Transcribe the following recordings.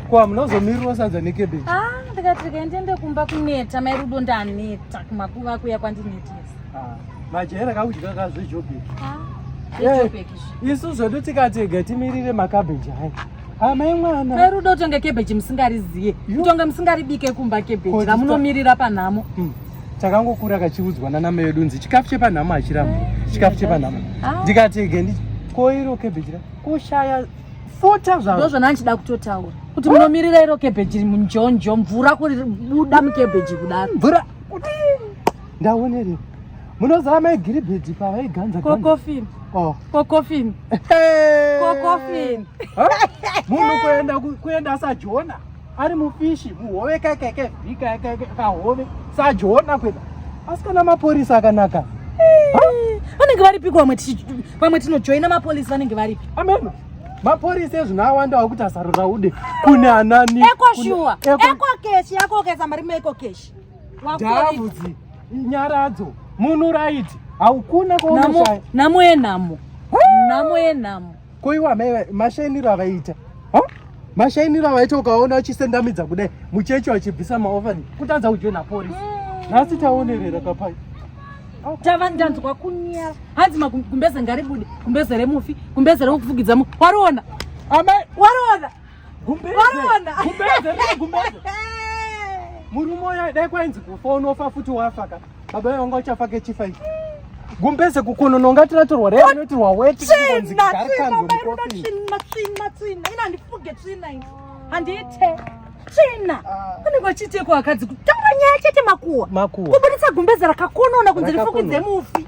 kwa munozomirirwa sadza nekebeji ah, ndikati rikaendende kumba kuneta mai rudo ndaneta kumakuva kuya kwandinetesa ah, majaira kakudya kazvejobeki ah, isu zvedu tikatega timirire makabeji aya Amai mwana. Mai rudo utonge cabbage musingariziye. Utonge musingaribike kumba cabbage ramunomirira panhamo. Mm. Takangokura kachiudzwa nana mai vedu nzi chikafu chepanhamo hachiramu. Eh, chikafu chepanhamo. Ah. Ndikati gendi koiro cabbage ra kushaya fota zvaro. Ndozvo nanchida kutotaura. Kuti munomirira iro cabbage munjonjo mvura kuri buda mucabbage kudaro. Mvura kuti ndaonerewo munoziva mai giribhedhi pavaiganza kokofin oh. kokofin kokofin munhu kuenda kuenda sajona ari mufishi muhove kaikaika vhikaikaika kahove sajona kuenda asi kana mapurisa akanaka vanenge varipiko vamwe vamwe tinojoina mapolisi vanenge varipi ameno mapolisi ezvino awanda wakuti asarura ude kune anani ekoshuwa ekokeshi yakokesa mari meekokeshi Ndavudzi nyaradzo munhu right haukuna kuonasha nhamo yenhamo nhamo yenhamo ko iwa mashainiro avaita mashainiro avaita ukaona uchisendamidza kudai muchechi wachibvisa maofani kutadza kujoina porisi mm. nhasi taonerera kapai tava ndanzwa kunyara hanzi magumbeze ngaribude gumbeze remufi gumbeze remukufugidza mu wariona amai wariona Gumbeze. Varona. Gumbeze, riri gumbeze. Murume uya dai kwainzi kufa unofa futi wafa ka. Baba vangu vachafa kechifa ichi. Gumbeze kukonono ngati ratorwa rei anoti waweti kunzi garikandwe mukofini. Tsvina, tsvina, tsvina. Ina ndifuge tsvina ini. Handiite. Tsvina. Unenge ah. uchiite kwa akadzi kutanga nyaya chete makuwa. Makuwa. Kubuditsa gumbeze rakakonona kunzi rifukidze mufi.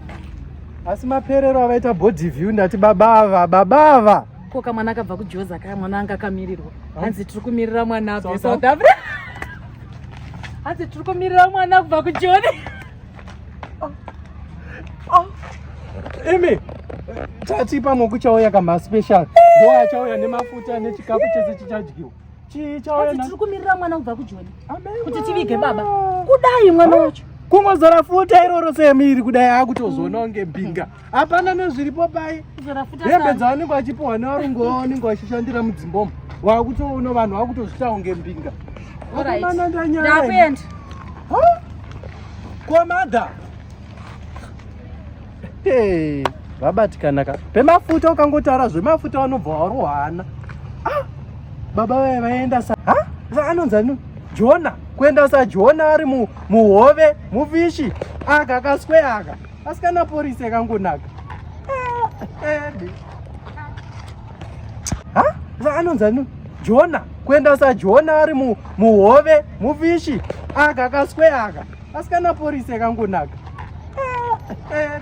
asi maperero avaita body view ndati baba ava baba ava ko kamwana akabva kujoza kaya mwana anga akamirirwa hanzi tiri kumirira mwana abve south africa hanzi tiri kumirira mwana kubva kujoni oh. oh. imi tati pamwe kuchauya kamaspecial ndoachauya nemafuta nechikafu chese chichadyiwa Chii chawena? Asi tiri kumirira mwana kubva kujoni. Kuti tivige baba. Kudai mwana ah, wacho. Kungozora futa iroro semiri kudai akutozoona kunge mbinga. Hapana nezviripo pai. Kuzora futa. Hembe dzaonekwa achipuwa nevarungu vaonekwa vachishandira mudzimbomo. Wakutoona vanhu vakutozvitawo kunge mbinga. All right. Ndakuenda. Huh? Kwa mother. hey, vabatikana ka pemafuta ukangotaura zvemafuta vanobva warohana ah, baba vaye vaenda sa anonzi ani jona kuenda sa jona ari mu, muhove mufishi aka kaswe aka asikana porisi akangonaka ah, anonzi ani jona kuenda sa jona ari mu, muhove mufishi aka kaswe aka asi kana porisi yakangonaka eh, eh,